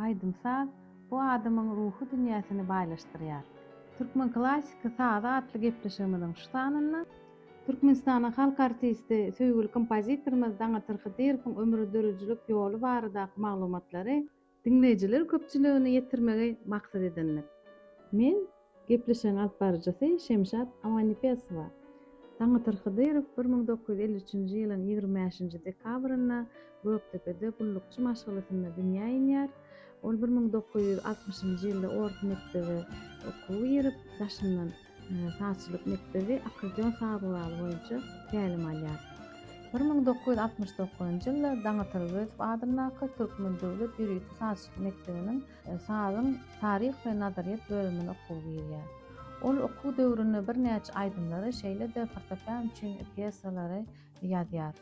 Aýdym-saz bu adamyň ruhy dünýäsini baýlaşdyrýar. Türkmen klassyky sazy atly gepleşigimiziň şu sanynda Türkmenistanyň halk artisti, söýgüli kompozitorymyz Daňatar Hydyrowyň ömür-döredijilik ýoly baradaky maglumatlary diňleýjiler köpçüligine ýetirmegi maksat edindik. Men Gepleşigiň alyp baryjysy Şemşat Awanipesowa. Taňatyrk Hydyrow bir müň dokuz ýüz elli üçünji ýylyň ýigrimi bäşinji dekabrynda Gökdepede gullukçy maşgalasynda dünýä inýär. Ol bir müň dokuz ýüz altmyşynjy ýylda orta mekdebe okuwa girip, daşyndan sazçylyk mekdebi, akkordeon sazguraly boýunça tälim alýar. Bir müň dokuz ýüz altmyş dokuzynjy ýylda Daňatar Öwezow adyndaky Türkmen döwlet ýörite sazçylyk mekdebiniň Sazyň Taryh we nazaryýet bölümine okuw girýär. Ol okuw döwründe birnäçe aýdymlary, şeýle-de fortepian üçin pýesalary ýazýar.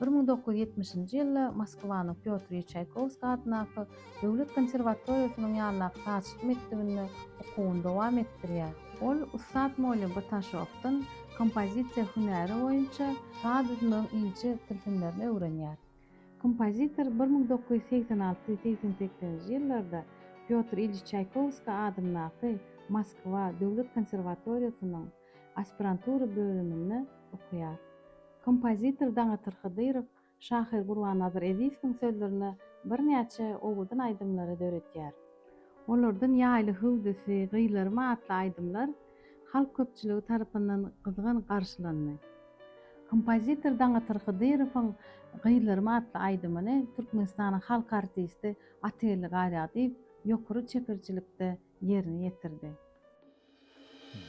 Bir müň dokuz ýüz ýetmişinji ýylda Moskwanyň Pýotr I Çaýkowskiý atyndaky döwlet konserwatoriýasynyň ýanyndaky sazçylyk mekdebinde okuwyny dowam etdirýär. Ol ussat Molýa Bataşowdan kompozisiýa hünäri boýunça saz düzmegiň inçe tilsimlerini öwrenýär. Kompozitor bir müň dokuz ýüz segsen alty, segsen sekizinji ýyllarda Pýotr Ilýiç Çaýkowskiý adyndaky Moskwa döwlet konserwatoriýasynyň aspirantura bölüminde okaýar. Kompozitor Daňatar Hydyrow, şahyr Gurbannazar Ezizowyň sözlerine birnäçe owadan aýdymlary döretýär. Olardan Ýaýly hüwdüsi, Gyýlarym atly aýdymlar halk köpçüligi tarapyndan gyzgyn garşylandy. Kompozitor Daňatar Hydyrowyň Gyzlarym atly aýdymyny Türkmenistanyň halk artisti Atgeldi Garýagdyýew ýokary çeperçilikde ýerine ýetirdi.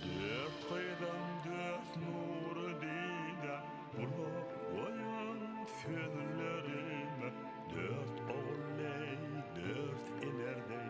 Dört gyzym dört nury dide, Gulak goýuň sözlerime. Dört ogul deý, dört iner deý,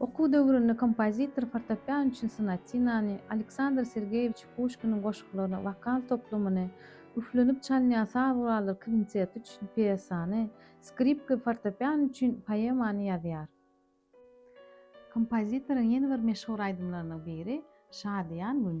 Okuw döwründe kompozitor fortepian üçin sonatinany, Aleksandr Sergeýewiç Puşkiniň goşgularyny, wokal toplumyny, üflenip çalynýan saz gurallary kwinteti üçin pýesany, skripka we fortepian üçin poemany ýazýar. Kompozitoryň ýene bir meşhur aýdymlarynyň biri Şadyýan gün.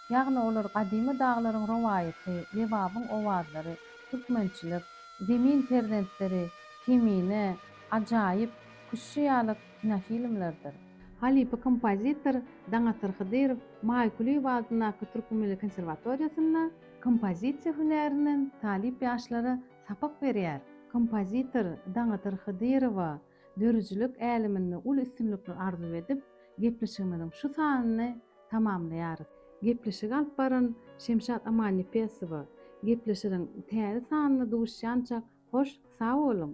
Ýagny olar gadymy daglaryň rowaýaty, Lebabyň owazlary, türkmençilik, Zemin perzentleri, Kemine, Ajaýyp, Küştçi ýaly kinofilmlerdir. Halypa kompozitor Daňatar Hydyrow Maýkulyýew adyndaky Türki milli konserwatoriýasynda kompozisiýa hünärinden talyp ýaşlara sapak berýär. Kompozitor Daňatar Hydyrowa Dörüjilik äleminde uly üstünlikler arzuw edip, gepleşigimiziň şu sanyny tamamlaýarys. Gepleşigi alyp baran Şemşat Amannepesowa. Gepleşiriň täze sanynda duşýançak hoş sag boluň!